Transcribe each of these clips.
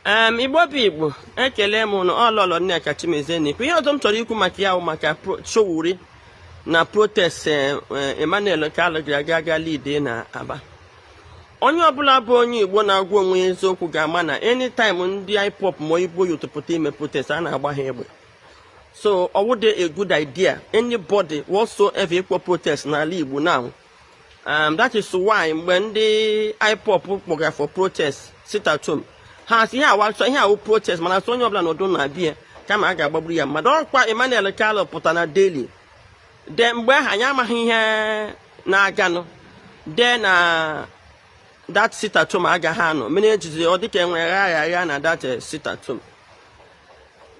um igbo bụ igbo ekele m ụnụ ọ Lọlọ Nneka Chimezie na-ekwu ihe ọzọ m chọrọ ikwu maka ya bụ maka Sowore na protest eh, eh, Emmanuel Kalu gara aga aga lead na Aba onye ọbụla bụ onye igbo na-agwa onwe ya eziokwu ga-ama na anytime ndị IPOB ma ọ Igbo youth pụta ime protest a na-agba ha egbe so ọ wụdị a good idea anybody whatsoever ịkpọ protest n'ala Igbo now um, that is why mgbe ndị IPOB kpọgara for protest sit at home ha sị ihe a wa sị ihe a wụ protest mana sị onye ọbụla nọdụ na be ya kama a ga-agbagburu ya mmadụ ọkwa Emmanuel Kalu pụta na daily then mgbe ahụ anyị amaghị ihe na-aganụ dee na that sit at home agaghị anọ mere ejizi ọ dịka enwere agha agha na that eh, sit at home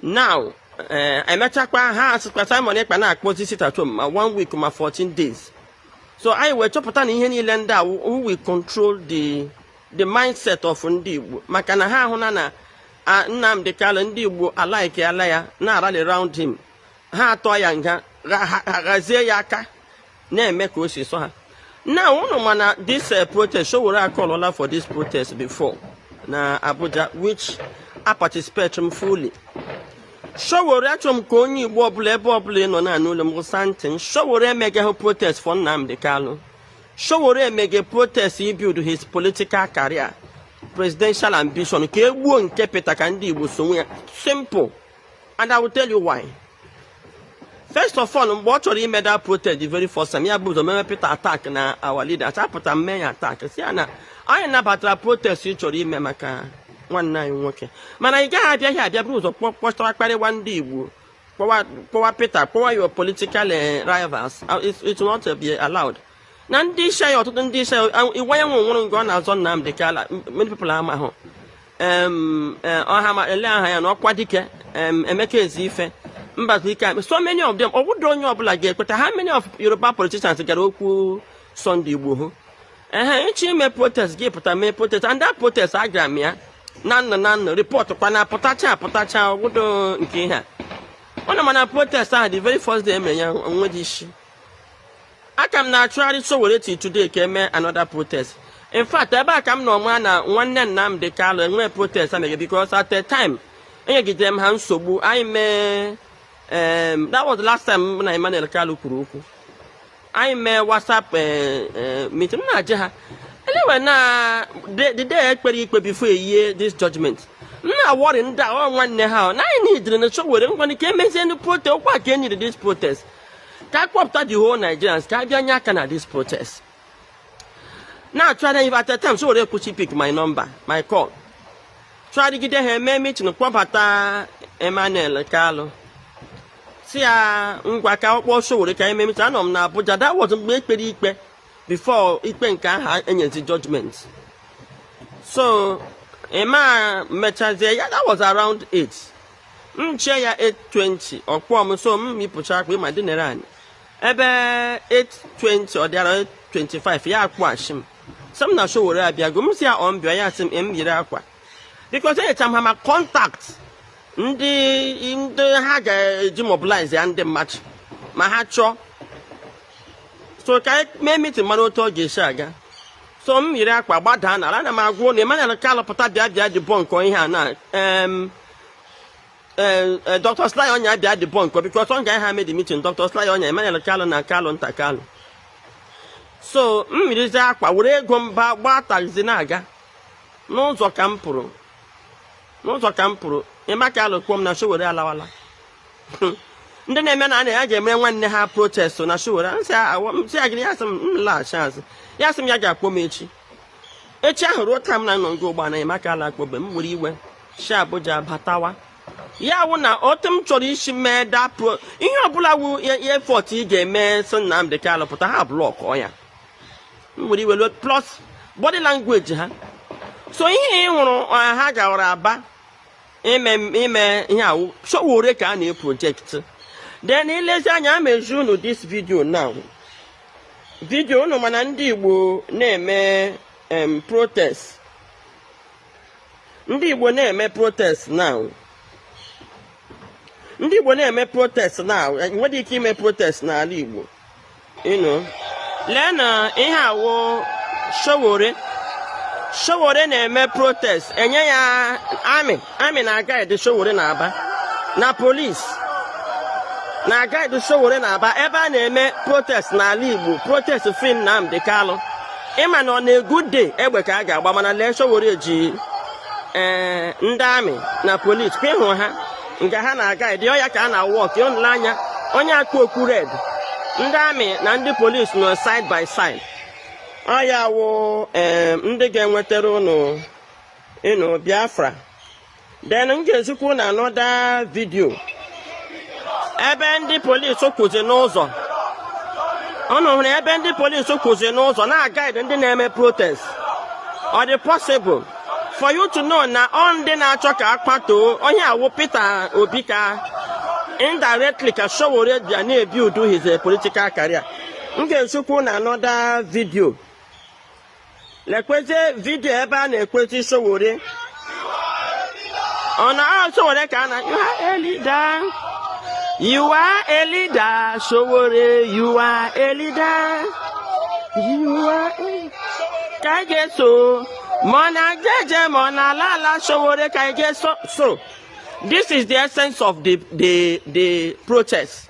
now eh, emechakwa ha asịkwa Simon Ekpa na-akpọzi sit at home ma one week ma 14 days so anyị wee chọpụta na ihe niile ndị a wụ who will control the the mindset of ndị Igbo maka na ha ahụna na Nnamdi Kanu ndị Igbo alikeala ya na-arally round him ha atụọ ya nga ghazie ya aka na-eme ka o si sọ ha now unu ma na this eh, protest Sowore acallọla for this protest before na Abuja which aparticipate m fully Sowore achọrọ m ka onye Igbo ọbụla ebe ọbụla ị nọ na-anụ olu m gụsa ntị m Sowore emegaghị protest for Nnamdi Kanu Sowore emege protest ịbuild his political career presidential ambition ka egbuo nke Peter ka ndị Igbo sowe ya simple and I will tell you why first of all mgbe ọ chọrọ ime that protest the very first time ya buru ụzọ mewe Peter attack na our leader achapụta mee ya attack sị ya na anyị nabatara protest ị chọrọ ime maka nwanne anyị nwoke mana ị gaghị abịaghị abịa buru ụzọ kpọchara kparịwa ndị Igbo kpọwa Peter kpọwa your political eh, rivals uh, it will not be allowed na ndị isi anyị ọtụtụ ndị isi anyị Iwuanyanwu nwụrụ nke ọ na-azọ Nnamdi Kanu many people amahụ Eh, ọha ele aha ya na Ọkwadike Emeka Ezeife Mbazulike akpe so many of them ọ bụdị onye ọbụla ga-ekweta how many of Yoruba politicians gara okwu Sunday Igboho ehe ị chọọ ime protest gị pụta mee protest and that protest agara m ya na-anụ na-anụ report kwa na apụtacha apụtacha ọ wụdị nke ihe a unu ma na protest ahụ the very first day emere ya o nwedị isi aka m na-achụgharị Sowore till today ka eme another protest in fact ebe a ka m nọ ma na nwanne Nnamdi Kanu enwe protest a na-eme because at a time enyegidere m ha nsogbu anyị mee em, that was the last time mụ na Emmanuel Kalu kwuru okwu anyị mee whatsapp eh, eh, meeting m na-ajụ ha anyway na the the day ekpere ikpe before enye this judgment m na-aworry ndị a ọ nwanne ha ọ na anyị needịrị na Sowore ngwanị ka emezie the protest ọkwa ka e nyere this protest ka a kpọpụta the whole Nigerians ka a bịa nye aka na this protest na-achụgharị at a time Sowore akwụsị pick my number my call chụgharịgide ha eme meeting kpọbata Emmanuel Kalu sị ya ngwa ka ọ kpọọ Sowore ka e mee meeting anọ m na Abuja that was mgbe e kpere ikpe before ikpe nke aha enyezi judgment so ema mechazie ya that was around 8 m chee ya 820 ọ kpọọ m so m yipụcha akwa m dinere anị ebe 820 ọ dịara 25 ya akpọghachi m sị m na Sowore abịago m sị ya ọ m bịa ya sị m m yiri akwa because enyecha m ha ma contact ndị ndị ha ga-eji mobilize ya ndị mmadụ ma ha chọọ so ka anyị mee meeting mara otu ọ ga-esi aga so m yiri akwa gbadaa n'ala a na m agwa unu Emmanuel Kalu pụta bịa bịa debunkọ ihe a na em Eh, eh, Dr. Sly Onyia bịa debunkọ because ọ ga-aha made meeting Dr. Sly Onyia Emmanuel Kalu na Kalu nta Kalu so m yirizi akwa were ego m baa gbaa taxi na-aga n'ụzọ ka m pụrụ n'ụzọ ka m pụrụ Emma Kalu kpọọ m na Sowore alawala ndị na-eme na na ya ga-emere nwanne ha protest na Sowore m sị ya gịnị ya sị m laghachi azụ ya sị m ya ga-akpọ m echi echi ahụ ruo taa m na unu na-ekwu ugbu a Emma Kalu akpọbe m were iwe si Abuja batawa ya wụ na otu m chọrọ isi mee dapụ ihe ọbụla wu effort ị ga-eme sị Nnamdi Kanu pụta ha block ya m were iwe plus body language ha so ihe ị hụrụ ha gawara Aba ime ime ihe a wụ Sowore ka a na-eproject then i lezie anya m ezi unu this video now video unu ma na ndị Igbo na-eme protest ndị Igbo na-eme protest now ndị Igbo na-eme protest now nwere ike ime protest n'ala Igbo unu lee na ihe a wụ Sowore Sowore na-eme protest enye ya army army na-aguide Sowore na Aba na police na-aguide Sowore na Aba ebe a na-eme protest n'ala Igbo protest free Nnamdi Kalu ị ma na on a good day egbe ka a ga-agba mana lee Sowore ji ee eh, ndị army na police ka ị hụ ha nga ha na-aguide ya ka a na-awalk unu lee anya onye a kpu okpu red ndị army na ndị police nọ side by side ọ ya wụ eh, ndị ga-enwetara unu ịnụ Biafra then m ga-ezikwa unu another video ebe ndị polisi kwụzi n'ụzọ unu hụrụ ebe ndị polisi kwụzi n'ụzọ na-aguide ndị na-eme protest ọ dị possible for you to know na ọ ndị na-achọ ka akpatoo onye a wụ Peter Obi ka indirectly ka Sowore bịa na-ebuild his political career m ga-ezikwa unu another video lekwezi video ebe a na-ekwezi Sowore ọ na ahụ Sowore ka a na you are a leader you are a leader Sowore you are a leader you are a ka anyị ga-eso ma ọ na-eje eje ma ọ na-ala ala Sowore ka anyị ga-eso so this is the essence of the the the protest.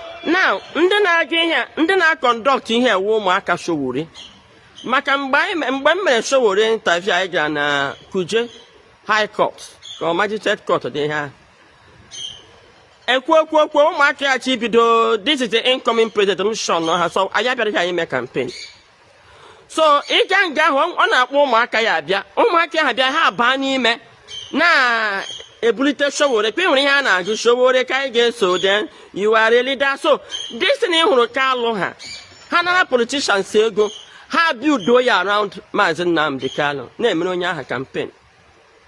now ndị na-aga ihe a ndị na-aconduct ihe a wụ ụmụaka Sowore maka mgbe anyị me- mgbe m mere Sowore interview anyị gara na Kuje High Court ka ọ Magistrate Court dị ihe ahụ ekwu okwu okwu ụmụaka ya chi bido this is the incoming president m shun ha so anyị abịara ka anyị mee campaign so ị ga nga ahụ ọ na-akpọ ụmụaka ya abịa ụmụaka ya abịa ha baa n'ime na-ebulite Sowore ka ị nwere ihe a na-agụ Sowore ka anyị ga-eso then you are a leader so this thing ị hụrụ ka alụ ha ha nara politicians ego ha build ya around maazị Nnamdi Kanu na-emere onye aha campaign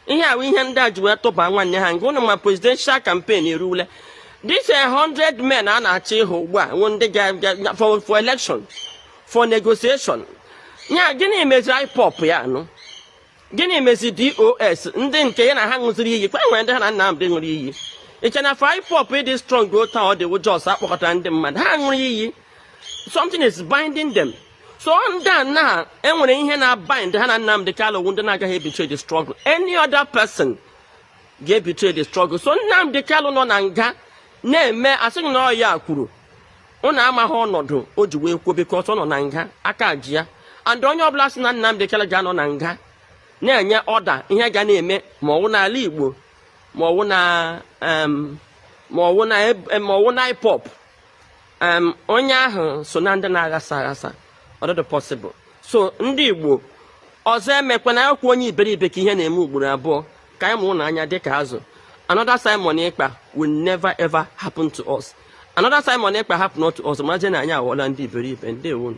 ihe a wụ ihe ndị a ji wee tụba nwanne ha nke ụnụ ma presidential campaign eruwule this a hundred men a na-achọ ịhụ ugbu a wụ ndị ga for election for negotiation ya gịnị meziri IPOB ya anụ gịnị mezi DOS ndị nke ya na ha ṅụziri iyi kwa nwere ndị ha na Nnamdi ṅụrụ iyi i che na for IPOB ịdị strong otu ọ dị wụ just a kpọkọtara ndị mmadụ ha ṅụrụ iyi something is binding them so ndị a na enwere ihe na bind ha na Nnamdi Kanu wụ ndị na-agaghị ebetray the struggle any other person ga-ebetray the struggle so Nnamdi Kanu nọ na nga na-eme asịghị na ọ ya kwuru ụnụ amaghị ọnọdụ o ji wee kwuo because ọ nọ na nga aka ji ya and onye ọbụla sị na Nnamdi Kanu ga-anọ na nga na-enye order ihe ga na-eme ma ọwụ n'ala Igbo ma ọwụ na ma ọwụ na IPOB onye ahụ so na ndị na-aghasa aghasa ọ dịghị possible so ndị Igbo ọzọ emekwana ọ wụkwa onye iberibe ka ihe na-eme ugboro abụọ ka anyị mụrụnụ anya dị ka azụ another Simon Ekpa will never ever happen to us another Simon Ekpa happen to us maje na anyị aghọọla ndị iberibe ndewonu